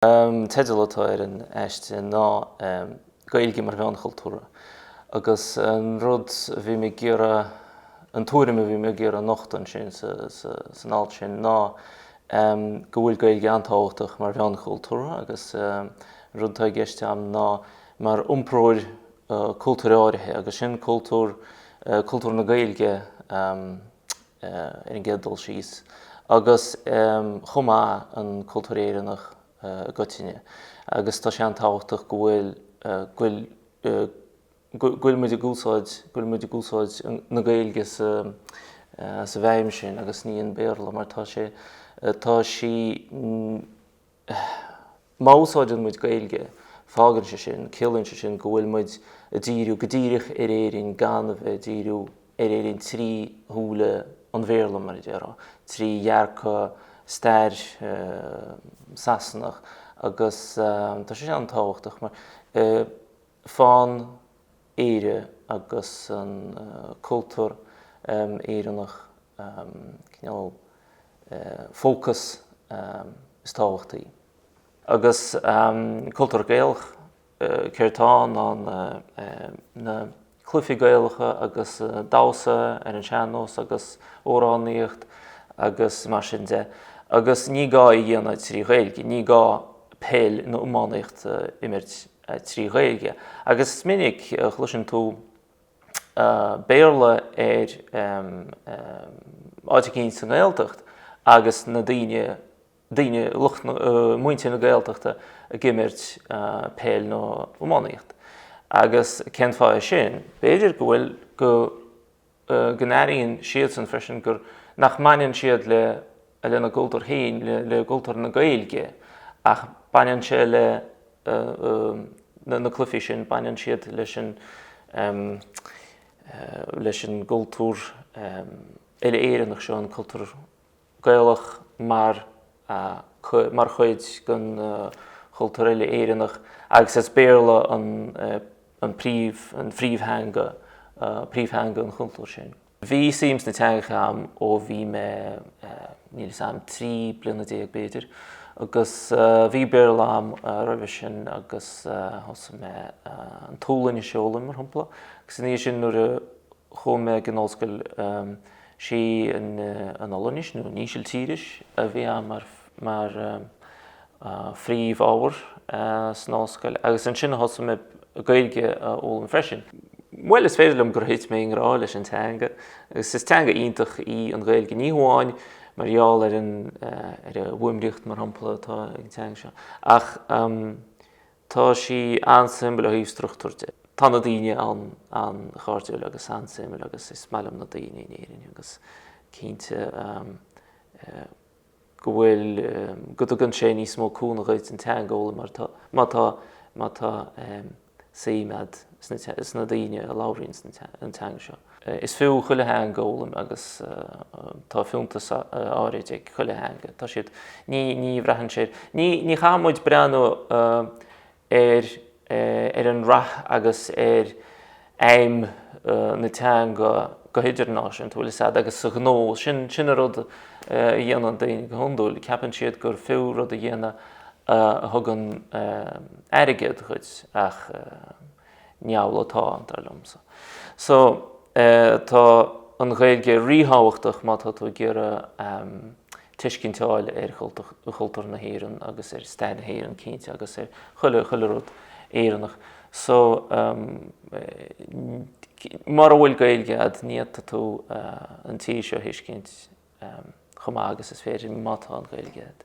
teideal atá ar an aiste ná 'Gaeilge mar Mheon Chultúrtha' agus an rud a bhí mé ag iarraidh, an tuairim a bhí mé ag iarraidh a nochtadh ansin san alt sin ná go bhfuil Gaeilge an-tábhachtach mar mheon cultúrtha agus an rud atá i gceist agam ná mar iompróir cultúir áirithe agus sin cultúr, cultúr na Gaeilge. ar an gcéad dul síos, agus chomh maith an cultúr Éireannach i gcoitinne. Agus tá sé an-tábhachtach go bhfuil, go bhfuil muid ag úsáid, go bhfuil muid ag úsáid na Gaeilge sa, sa bhfeidhm sin agus ní an Béarla mar tá sé, tá sí, Má úsáideann muid Gaeilge, fágann sé sin, ciallaíonn sé sin, go bhfuil muid ag díriú go díreach ar Éirinn gan a bheith ag díriú ar Éirinn trí shúile an Bhéarla, mar a déarfá, trí dhearcadh stair Sasanach agus tá sé sin an-tábhachtach mar fanann Éire agus an cultúr Éireannach cineál fócas is tábhachtaí. Agus cultúr Gaelach, céard tá ann ná na cluifí Gaelacha agus damhsa ar an sean-nós agus amhránaíocht agus mar sin de. Agus ní gá é a dhéanamh trí Ghaeilge, ní gá peil nó iománaíocht a imirt trí Ghaeilge. Agus is minic a chloiseann tú Béarla ar áit éicínt sa nGaeltacht agus na daoine, daoine, lucht na, muintir na Gaeltachta ag imirt peil nó iománaíocht. Agus cén fáth é sin? B'fhéidir go bhfuil, go, go n-airíonn siadsan freisin gur, nach mbaineann siad le, lena gcultúr féin, le cultúr na Gaeilge, ach baineann sé le na cluifí sin, baineann siad leis an, leis an gcultúr uile-Éireannach seo, an cultúr. Gaelach mar mar chuid den chultúr uile-Éireannach agus is Béarla an an príomh an phríomhtheanga príomhtheanga an chultúir sin. Bhí suim sna teangacha agam ó bhí mé níl 'fhios a'm trí bliana déag b'fhéidir agus bhí Béarla agam roimhe sin agus thosaigh mé an tSualainnis a fhoghlaim mar shampla agus ina dhiaidh sin nuair a chuaigh mé ag an ollscoil Sí an Ollainnis, nó an Ísiltíris, a bhí ann mar phríomhábhar san ollscoil agus ansin a thosaigh mé Gaeilge a fhoghlaim freisin. Bhuel, is féidir liom gur thit mé i ngrá leis an teanga agus is teanga iontach í an Ghaeilge, ní hamháin mar gheall ar an bhfuaimníocht, mar shampla, atá ag an teanga seo, ach. Tá sí an-suimiúil ó thaobh struchtúir de. Tá na daoine an-chairdiúil agus an-suimiúil agus is maith liom na daoine in Éirinn agus cinnte go bhfuil, go dtugann sé níos mó cúnamh dhuit an teanga a fhoghlaim mar tá, má tá, má tá suim a'd sna daoine a labhraíonn an teanga seo. Is fiú chuile theanga a fhoghlaim agus tá fiúntas áirid ag chuile theanga. Tá siad, ní, ní bhraitheann sé, ní, ní chaithfidh muid breathnú ar, ar an rath agus ar fheidhm na teanga go hidirnáisiúnta, bhuel, is ea, agus sa ghnó, sin, sin an rud a dhéanann daoine go hiondúil, ceapann siad gur fiú rud a dhéanamh a thugann airgead dhuit ach, níl a dhath ann, dar liomsa. So, tá an Ghaeilge ríthábhachtach má tá tú ag iarraidh tuiscint a fháil ar chultúr na hÉireann agus ar stair na hÉireann, cinnte, agus ar chuile, chuile rud Éireannach. So, mara bhfuil Gaeilge a'd, ní fhéadfaidh tú an tír seo a thuiscint chomh maith agus is féidir má tá an Ghaeilge a'd.